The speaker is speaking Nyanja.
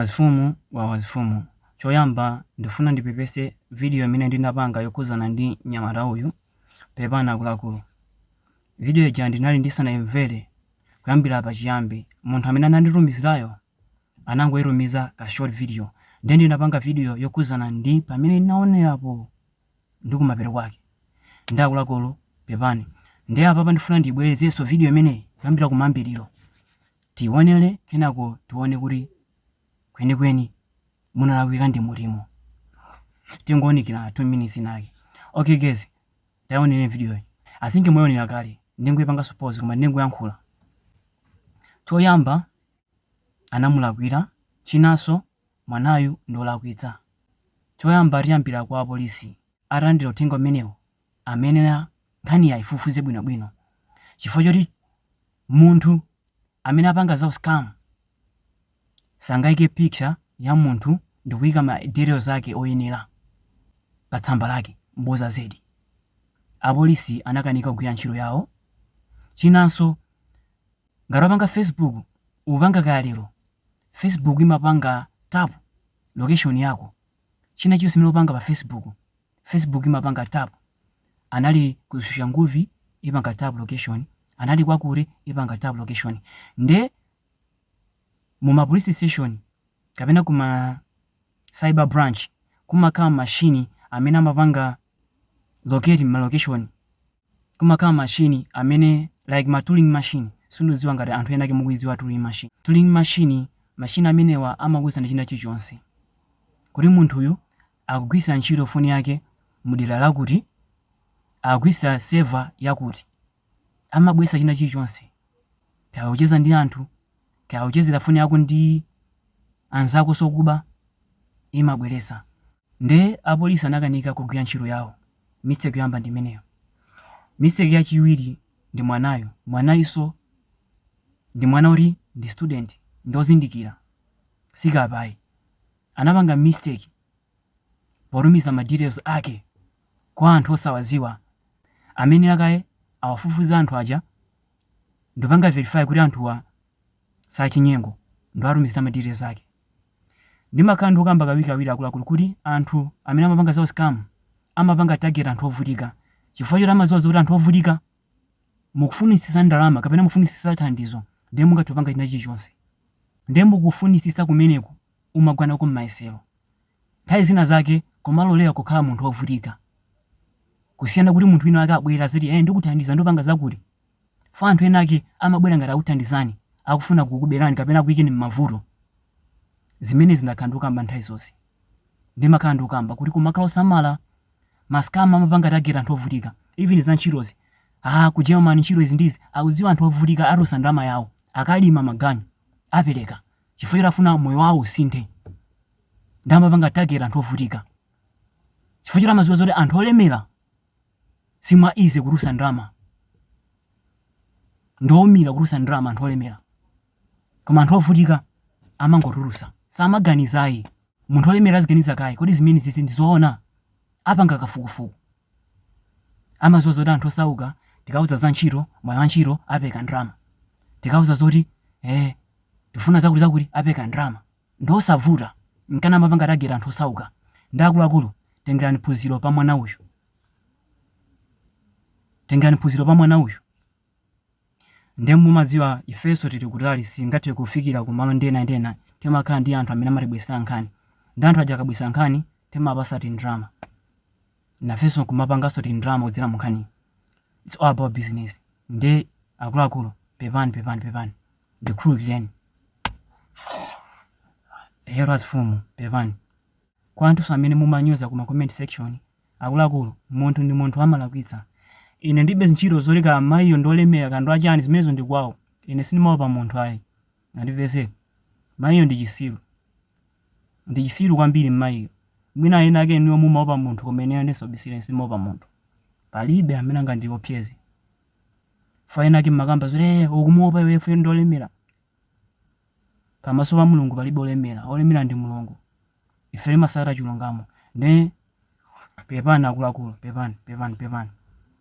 Azifumu wawa azifumu choyamba ndifuna ndipepese video imene ndinapanga yokhuzana ndi mnyamata uyu pepani akuluakulu video ija ndinali ndisanayimvere kuyambira pachiyambi munthu amene ananditumizirayo anangoyitumiza ka short video ndiye ndinapanga video yokhuzana ndi pamene ndinaonerapo ndi kumapeto kwake ndi akuluakulu pepani ndiye apapa ndifuna ndiyibwerezenso video imeneyi kuyambira kumayambiriro Tiwonele kenako tiwone kuti kwenikweni munalakwika ndi mutimo. Tingowunikirana 2 minutes inayake. Ok guys tawonelani video yi. I think mwayiwonela kale ndingoyipangaso pause koma ndingoyankhula. Choyamba anamulakwila chinanso mwanayu ndiwolakwitsa. Choyamba tiyambila kwa apolisi. Atalandila uthenga umenewu amayenera nkhaniyi aifufuze bwinobwino chifukwa choti munthu amene apanga za u scam sangaike picture ya munthu ndikuika ma details ake oyenera pa tsamba lake bodza zedi apolisi anakanika kugwira ntchito yawo chinanso ngati wapanga facebook upanga kaya lero facebook imapanga tap location yako china chilichonse chimene upanga pa facebook Facebook imapanga tap anali ku Soshanguve ipanga tap location anali kwakuti ipanga tap location nde muma police station kapena kuma cyber branch kumakhala machine amene amapanga locate ma location kumakhala machine amene like ma Turing machine sindudziwa ngati anthu ena ake mukuidziwa Turing machine. Turing machine machine amenewa amakuuzani china chilichonse kuti munthuyu akugwiritsira ntchito foni yake mu dera lakuti, akugwiritsira server yakuti, amabweretsa china chilichonse kaya ukucheza ndi anthu, kaya ukuchezera foni yako ndi anzakonso okuba imabweretsa. Nde apolisi anakanika kugwira ntchito yawo. Mistake yoyamba ndi imeneyo. Mistake yachiwiri ndi mwanayo. Mwanayunso ndi mwana oti ndi student, ndi ozindikira, si kape ayi. Anapanga mistake potumiza ma details ake kwa anthu osawadziwa. Amayenera kaye awafufuze anthu aja. ndi kupanga verify kuti anthuwa sachinyengo ndi kuwatumizira ma details ake ndimakhala ndikukamba kawirikawiri akuluakulu kuti anthu amene amapanga za u scam amapanga target anthu ovutika chifukwa choti amadziwa zoti anthu ovutika mukufunitsitsa ndalama kapena mukufunitsitsa thandizo ndiye mungathe kupanga china chilichonse ndiye mukufunitsitsa kumeneku umagwa nako m'mayesero. Nthawi zina zake kumalolera kukhala munthu wovutika kusiyana kuti munthu wina ake abwere aziti eh ndikuthandiza ndopanga zakuti. Fa anthu ena ake amabwera ngati akuthandizani akufuna kukuberani kapena akuyikeni m'mavuto. Zimenezi ndakhala ndikukamba nthawi zonse. Ndimakhala ndikukamba kuti kumakhala osamala. Ma scam amapanga target anthu ovutika. Even za ntchitozi. Ah ku Germany ntchito izi ndi izi akudziwa anthu ovutika atosa ndalama yawo akalima maganyu apereka. chifukwa choti afuna moyo wawo usinthe nde amapanga target anthu ovutika chifukwa choti amadziwa zoti anthu olemera si mwa easy kutulutsa ndalama ndi oumira kutulutsa ndalama anthu olemera koma anthu ovutika amangotulutsa samaganiza ayi munthu olemera aziganiza kaye kodi zimene zizi ndizoona apanga kafukufuku Amaziwa zoti anthu osauka tikauza za ntchito, mwayi wa ntchito, apereka ndalama. Tikauza zoti eh tikufuna zakuti zakuti apereka ndalama. Ndi zosavuta nkana amapanga target anthu osauka. Nde akuluakulu tengerani phunziro pa mwana uyu. Tengerani phunziro pa mwana uyu. Nde mumadziwa ifeso tili kutali sitingathe kufikira kumalo ena ndi ena timakhala ndi anthu amene amatibwesera nkhani nde anthu aja akabwesa nkhani timawapasa tindrama nafeso nkumapangaso tindrama kudzera munkhaniyo its all about business nde akuluakulu pepani pepani pepani ndikhululukireni eyetu azifumu pepani kwa anthuso amene mumanyoza kuma comment section Akuluakulu, munthu ndi munthu amalakwitsa. Ine ndilibe ntchito zoti kaya mayiyo ndi olemera kaya ndi wachani zimenezo ndi kwawo. Ine sindimaopa munthu ayi. Mwandimvetsa? Mayiyo ndi chisiru. Ndi chisiru kwambiri mmayiyo. Mwina ena ake inuyo mumaopa munthu koma ineyo ndisobisira ine sindimaopa munthu. Palibe amene angandiopyeze. Chifukwa ena ake mmakamba zoti ee ukumuopa iwe chifukwa choti ndi olemera. Pamaso pa Mulungu palibe olemera, olemera ndi Mulungu. Ife timasata chilungamo. Nde pepani akuluakulu, pepani, pepani, pepani.